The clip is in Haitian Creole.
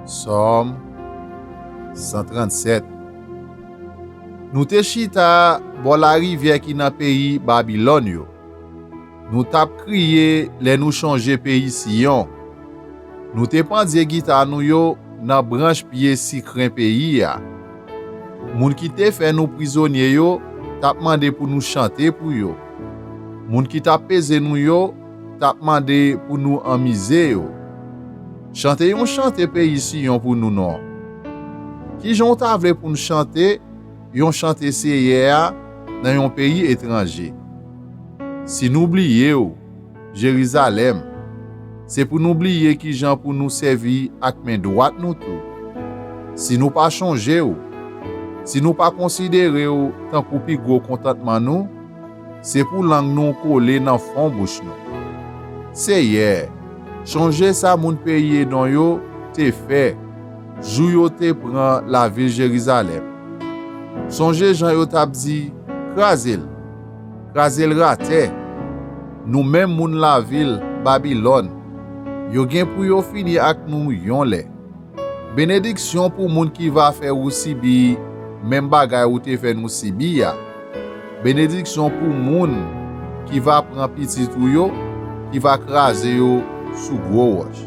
Sòm 137 Nou te chita bò larivyè ki nan peyi Babilòn yo. Nou t ap kriye lè nou chonje peyi Siyon. Nou te pandye gita nou yo nan branch pye sikren peyi a. Moun ki te fè nou prizonye yo t ap mande pou nou chante pou yo. Moun ki t ap peze nou yo t ap mande pou nou anmize yo. Chante yon chante peyi Siyon pou nou non. Ki jan w ta vle pou n chante yon chante Seyè a nan yon peyi etranje? Si nou bliye w, Jerizalèm, se pou nou bliye ki jan pou nou sèvi ak men dwat nou tou. Si nou pa chonje w, si nou pa konsidere w tankou pi gwo kontantman nou, Se pou lang nou kole nan fon bouch nou. Seyè, chonje sa moun peyi Edon yo te fè jou yo te pran lavil Jerizalèm. Sonje jan yo t ap di, Kraze l! Kraze l ratè! Nou menm moun lavil Babilòn, yo gen pou yo fini ak nou yon lè. Benediksyon pou moun ki va fè ou sibi menm bagay ou te fè nou sibi a. Benediksyon pou moun ki va pran pitit ou yo, ki va kraze yo sou gwo wòch.